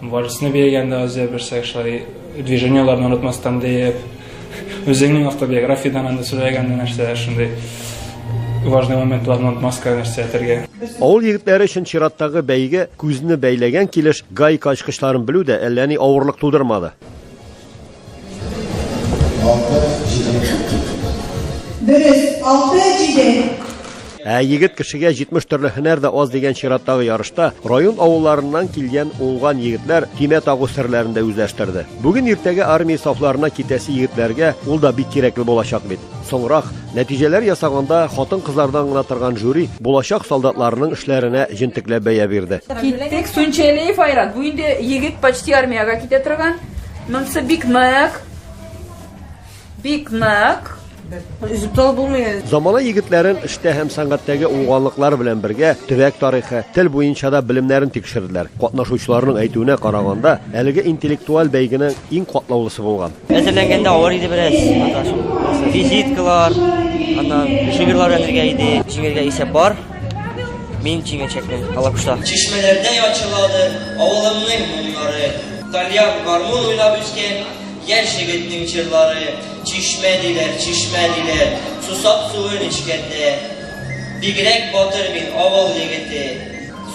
Вальсны биегәндә Азия берсәк шулай движениеләрне онытмастан диеп, үзеңнең автобиографиядан анда сөйләгәндә нәрсә шундый важный моментларны онытмаска нәрсә әйтергә. Авыл егетләре өчен чираттагы бәйге күзне бәйләгән килеш гайка ачкычларын белү дә әллә ни авырлык тудырмады. Дөрес, алты, җиде. Ә егет кешегә 70 төрле һөнәр дә аз дигән чираттагы ярышта район авылларыннан килгән уңган егетләр тимә тагу серләрен дә үзләштерде. Бүген иртәгә армия сафларына китәсе егетләргә ул да бик кирәкле булачак бит. Соңрак, нәтиҗәләр ясаганда хатын-кызлардан гына торган жюри булачак солдатларның эшләренә җентекләп бәя бирде. Киттек, Сөнчәлиев Айрат. Бу инде егет почти армиягә китә торган. Монсы бик нык. Бик нык. Үзептал булмый. Замана егетләрен эштә һәм сәнгатьтәге уңганлыклар белән бергә төбәк тарихы, тел буенча да белемнәрен тикшерделәр. Катнашучыларның әйтүенә караганда, әлеге интеллектуаль бәйгенең иң катлаулысы булган. Әзерләнгәндә авыр иде бераз. Визиткалар, аннан шигырьләр әзерләгән иде. Җиңергә исәп бар. Мин җиңәчәкмен, алакушлар. Чишмәләрдә ячылады авылымның моңнары. Тальян гармун уйнап үскән яшь егетнең җырлары. Чишмә диләр, чишмә диләр, сусап суын эчкәндә. Бигрәк батыр мин, авыл егете,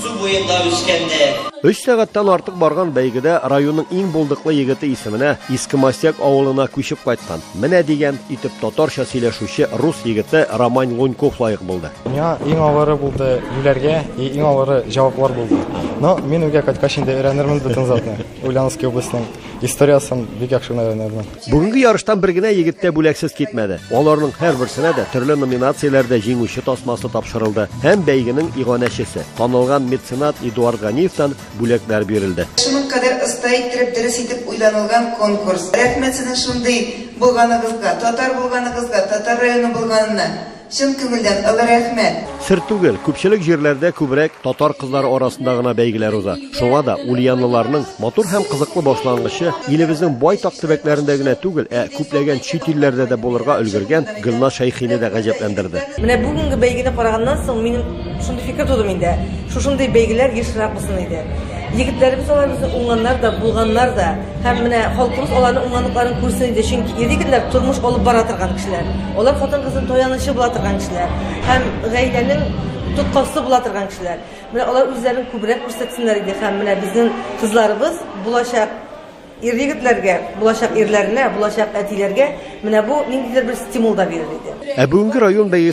су буенда үскәндә. Өч сәгатьтән артык барган бәйгедә районның иң булдыклы егете исеменә, Иске Мостяк авылына күчеп кайткан, Менә дигән итеп татарча сөйләшүче рус егете Роман Луньков лаек булды. Миңа иң авыры булды юләргә, и иң авыры җаваплар булды. Но мин үгә кайткач инде өйрәнермен бөтен затны. Ульяновский областьның историясын бик яхшы гына өйрәнермен. Бүгенге ярыштан бер генә егет тә бүләксез китмәде. Аларның һәрберсенә дә төрле номинацияләрдә җиңүче тасмасы тапшырылды һәм бәйгенең иганәчесе, танылган меценат Эдуард Ганиевтан бүләкләр бирелде. Шуның кадәр оста иттереп, дөрес итеп уйланылган конкурс. Рәхмәт сезнең шундый булганыгызга, татар булганыгызга, татар районы булганына. Чын күңелдән олы рәхмәт! Сер түгел, күпчелек җирләрдә күбрәк татар кызлары арасында гына бәйгеләр уза. Шуңа да ульянлыларның матур һәм кызыклы башлангычы илебезнең байтак төбәкләрендә генә түгел, ә күпләгән чит илләрдә дә булырга өлгергән Гөлназ Шәйхине дә гаҗәпләндерде. Менә бүгенге бәйгене караганнан соң, минем Шундый фикер туды миндә. Шушындый бәйгеләр ешрак булсын иде. Егетләребез аларыбызны уңганнар да, булганнар да. Һәм менә халкыбыз аларның уңганлыкларын күрсен иде, чөнки ир-егетләр тормыш алып бара торган кешеләр. Алар хатын-кызның таянычы була торган кешеләр һәм гаиләнең тоткасы була торган кешеләр. Менә алар үзләрен күбрәк күрсәтсеннәр иде һәм менә безнең кызларыбыз булачак ир-егетләргә, булачак ирләренә, булачак әтиләргә менә бу ниндидер бер стимул да бирер иде. Ә бүгенге район бәйгесе.